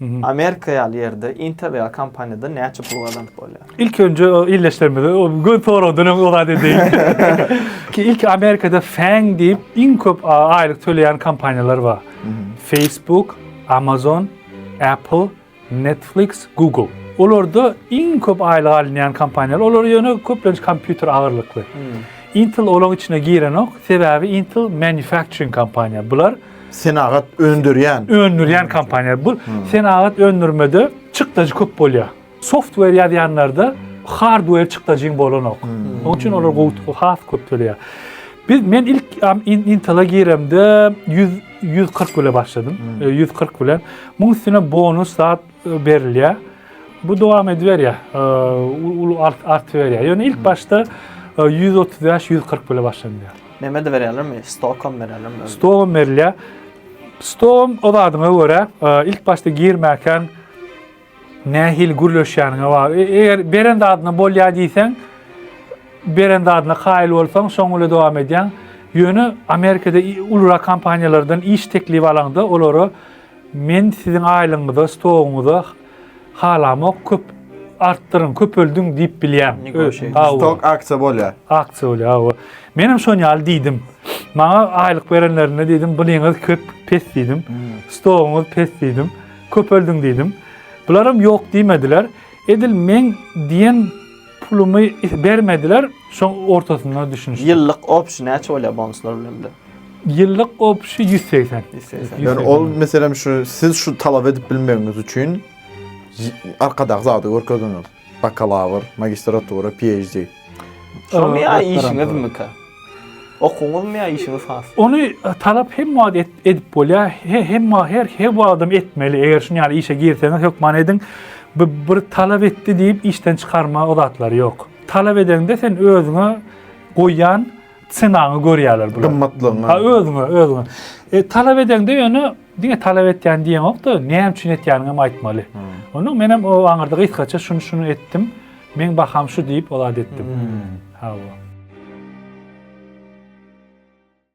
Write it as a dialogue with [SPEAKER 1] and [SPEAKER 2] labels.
[SPEAKER 1] Amerika ýaly ýerde Intel ýaly kompaniýadan näçe pul gazanyp bolýar? Ilki önje
[SPEAKER 2] ildeşlerimize göz soragdan öň o zady edeýin. Ki ilki Amerikada Fang diýip iň köp aýlyk töleýän kompaniýalar bar. Facebook, Amazon, Apple, Netflix, Google. Olarda iň köp aýlyk alynýan kompaniýalar. Olar ýöne köplenç kompýuter agyrlykly. Intel olaň içine girenok. Sebäbi Intel manufacturing kompaniýa. Bular Senagat
[SPEAKER 3] öndürýän. Öndürýän kompaniýa. Bu
[SPEAKER 2] senagat öndürmede çykdajy köp bolýar. Software ýazýanlarda hardware çykdajyň bolanok. Onuň üçin olar gowy has köp töleýär. Biz men ilk Intel-a giremde 100 140 bile başladym. 140 bilen. Muň üstüne bonus zat berilýär. Bu dowam ediberýär, uly artyberýär. Ýöne ilk başda 135-140 bilen başlanýar. Neme de berýärlermi?
[SPEAKER 1] Stokom berýärlermi? Stokom berilýär.
[SPEAKER 2] Stokom o zadyňa görä, ilk başda girmäkän nähili gürleşýäniňe bagly. E, eger beren zadyna bolýar diýseň, beren zadyna kaýyl bolsaň, şoň bilen dowam edýäň. Ýöne Amerikada uly kompaniýalardan iş teklibi alaňda, olara Men siziň aýlygyňyza, stogyňyza halamok, köp artdyryň, köpeldiň diýip bilýän. Stok
[SPEAKER 3] aksiýa bolýar. Aksiýa bolýar, hawa.
[SPEAKER 2] Men hem şon ýaly diýdim. Maňa aýlyk berenlerinde diýdim, blyňyz köp, pes diýdim. Stogyňyz pes diýdim. Köpeldiň diýdim. Bular hem ýok diýmediler. Edil men diýen pulumy bermediler, şoň ortasynda düşünişdik. Ýyllyk opsiýa näçe
[SPEAKER 1] bolýar bonuslar bilen bir? Ýyllyk
[SPEAKER 2] gopuşy ýüz segsen. Ýöne ol
[SPEAKER 3] meselem şu siz şu talap edip bilmegiňiz üçin arkadaky zady görkezdiňiz. Bakalawr, magistratura, PHD. Şoňa
[SPEAKER 1] ýa işiňizmika? Okuwyňyzmy ýa işiňiz has? Ony talap
[SPEAKER 2] hemme wagt edip bolýar. Hemme her her wagtam etmeli. Eger şuny ýaly işe girseňiz hökman ediň. Bu bir talap etdi diýip işden çykarma o zatlary ýok. Talap edeňde sen özüňe goýýan Senaňy görýärler bular. Gymmatlygyňy. Ha özüňe,
[SPEAKER 3] özüňe.
[SPEAKER 2] E, talap edeňde ýöne diňe talap etýän diýeňokda, näme üçin etýäniňi hem aýtmaly. Hmm. Onuň men hem o aňyrda gysgaça şuny şuny etdim. Men baham şu diýip o zat etdim. Hmm. Ha bu.